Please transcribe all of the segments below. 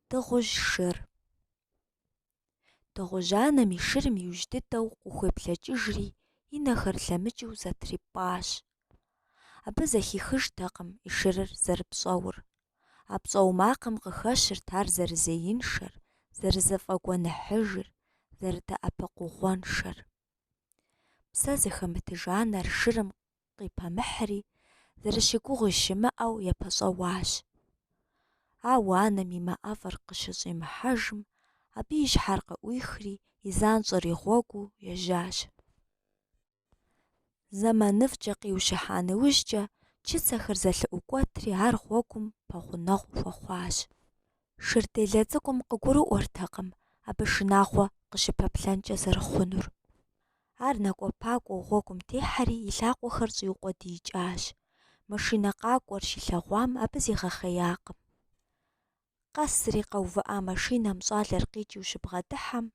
Дыгъужь шыр. Дыгъужь анэм и шырым иужь дыдэу къыхуеплъэкӏыжри и нэхэр лъэмыкӏыу зэтрипӏащ. Абы зэхихыжтэкъым и шырыр зэрыпщӏэур. А пщӏэу макъым къыхэщырт ар зэрызеиншэр, зэрызэфӏэгуэныхьыжыр, зэрыдэӏэпыкъугъуэншэр. Псэ зыхэмытыж анэр шырым къипэмыхьри, зэрыщыгугъи щымыӏэу епэщӏэуащ. Ауэ анэм и мэ ӏэфӏыр къыщыщӏимыхьэжым, абы и щхьэр къыӏуихри, и занщӏэр и гъуэгуу ежьащ. Зэманыфӏкӏэ къиущыхьа нэужькӏэ, чыцэхэр зэлъыӏукӏуэтри ар гъуэгум пэгъунэгъу хуэхъуащ. Шырделэ цӏыкӏум къыгурыӏуэртэкъым абы шынагъуэ къыщыпэплъэнкӏэ зэрыхъунур. Ар накӏуэпакӏуэу гъуэгум техьэри и лъакъуэхэр щӏиукъуэдиикӏащ. Машинэ къакӏуэр щилъэгъуам абы зигъэхъеякъым. Къэсри къэувыӏа машинэм щӏалэр къикӏыу щыбгъэдыхьэм,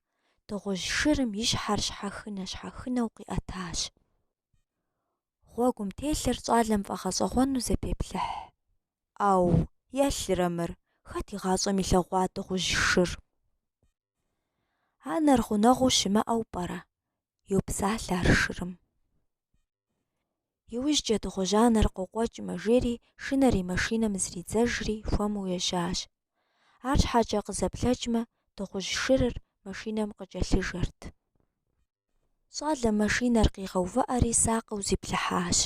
дыгъужь шырым и щхьэр щхьэхынэ-щхьэхынэу къиӏэтащ. Гъуэгум телъыр щӏалэм фӏэгъэщӏэгъуэну зэпеплъыхь. ӏэу, елърэ мыр, хэт игъащӏэм илъэгъуа дыгъужь шыр? Анэр гъунэгъуу щымыӏэу пӏэрэ? йопсалъэ ар шырым. Иужькӏэ дыгъужь анэр къокъуэкӏмэ, жери шынэри машинэм зридзэжри хуэму ежьащ. Арщхьэкӏэ къызэплъэкӏмэ, дыгъужь шырыр машинэм къыкӏэлъыжэрт. Щӏалэм машинэр къигъэувыӏэри сакъыу зиплъыхьащ.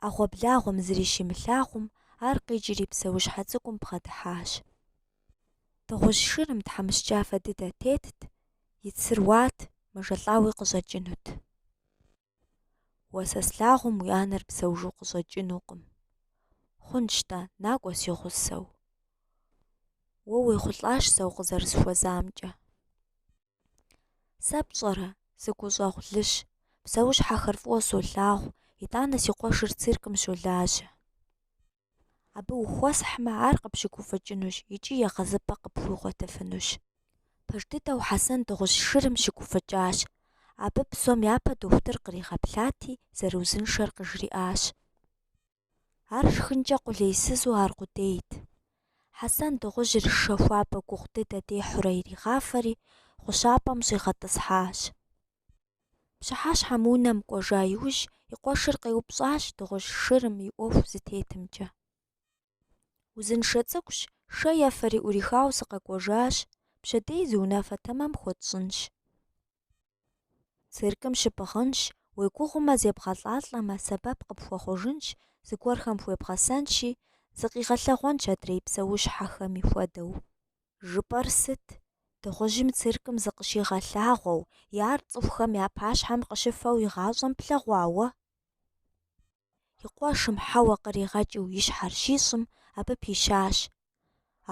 ӏэгъуэблагъуэм зыри щимылъагъум, ар къикӏри псэущхьэ цӏыкӏум бгъэдыхьащ. Дыгъужь шырым тхьэмыщкӏафэ дыдэ тетт, и цыр уат, мэжэлӏауи къыщӏэкӏынут. Уэ сэ слъагъум уи анэр псэужу къыщӏэкӏынукъым. Хъунщ-тӏэ, накӏуэ си гъусэу. Уэ уехъулӏащ сэ укъызэрысхуэзамкӏэ. Сэ пщӏэрэ, сыгущӏэгъулыщ, псэущхьэхэр фӏыуэ солъагъу, итӏанэ си къуэшыр циркым щолажьэ. Абы ухуэсхьмэ, ар къыпщыгуфӏыкӏынущ икӏи егъэзыпӏэ къыпхуигъуэтыфынущ. Пэж дыдэу Хьэсэн дыгъужь шырым щыгуфӏыкӏащ. Абы псом япэ дохутыр къригъэплъати, зэрыузыншэр къыжриӏащ. Ар шхынкӏэ къулейсызу аркъудейт. Хьэсэн дыгъужьыр шэ хуабэ гугъу дыдэ дехьурэ иригъафэри, гъущапӏэм щӏигъэтӏысхьащ. Пщыхьэщхьэм унэм кӏуэжа иужь и къуэшыр къеупщӏащ дыгъужь шырым и ӏуэху зытетымкӏэ. Узыншэ цӏыкӏущ, шэ ефэри ӏурихауэ сыкъэкӏуэжащ, пщэдей зы унафэ тэмэм хуэтщӏынщ. Циркым щыпӏыгъынщ, уегугъумэ зебгъэлӏалӏэмэ, сэбэп къыпхуэхъужынщ, зыгуэрхэм хуебгъэсэнщи, зыкъигъэлъэгъуэнщ адрей псэущхьэхэми хуэдэу. Жыпӏэр сыт? Дыгъужьым циркым зыкъыщигъэлъагъуэу, е ар цӏыхухэм я пащхьэм къыщыфэу игъащӏэм плъэгъуа уэ? И къуэшым хьэуэ къригъэкӏыу и щхьэр щищӏым, абы пищащ.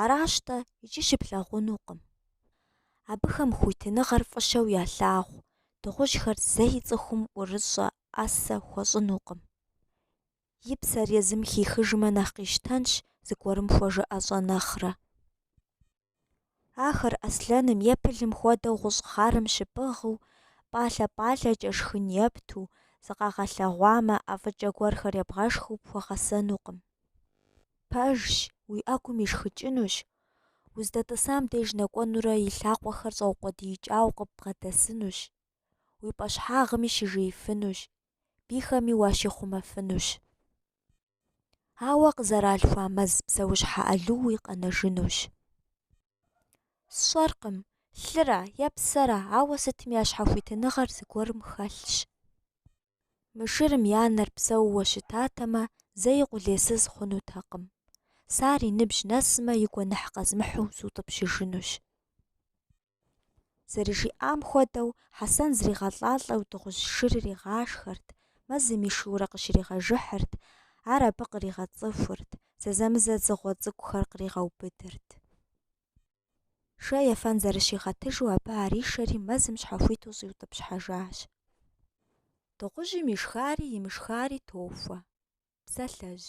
Аращ-тӏэ, икӏи щыплъагъунукъым. Абыхэм хуитыныгъэр фӏыщэу ялъагъу, дыгъужьхэр зэи цӏыхум ӏурыщӏэ ӏэсэ хуэщӏынукъым. И псэр езым хихыжмэ нэхъ къищтэнщ зыгуэрым хуэжыӏэщӏэ нэхърэ. Ахэр аслъэным е пылым хуэдэу гъущӏ хъарым щыпӏыгъыу, пӏалъэ-пӏалъэкӏэ шхын епту, зыкъагъэлъэгъуамэ, ӏэфӏыкӏэ гуэрхэр ебгъэшхыу пхуэгъэсэнукъым. Пэжщ, уи ӏэгум ишхыкӏынущ, уздэтӏысам деж нэкӏуэнурэ и лъакъуэхэр щӏэукъуэдиикӏауэ къыббгъэдэсынущ, уи пӏэщхьагъми щыжеифынущ, бийхэми уащихъумэфынущ. Ауэ къызэралъхуа мэз псэущхьэ ӏэлууи къэнэжынущ. Сщӏэркъым, лъыра е псэра, ауэ сытми я щхьэхуитыныгъэр зыгуэрым хэлъщ. Мы шырым и анэр псэууэ щытатэмэ, зэи къулейсыз хъунутэкъым. Сэ ар и ныбжь нэсмэ, и гуэныхь къэзмыхьу сутӏыпщыжынущ. Зэрыжиӏам хуэдэу, Хьэсэн зригъэлӏалӏэу дыгъужь шырыр игъашхэрт, мэзым ишэурэ къыщригъэжыхьырт, ар абы къригъэцӏыхурт, зэзэмызэ дзыгъуэ цӏыкӏухэр къригъэубыдырт. Шэ ефэн зэрыщигъэтыжу абы ар ишэри мэзым щхьэхуиту щӏиутӏыпщхьэжащ. Дыгъужьым ишхари имышхари тохуэ. Псалъэжь.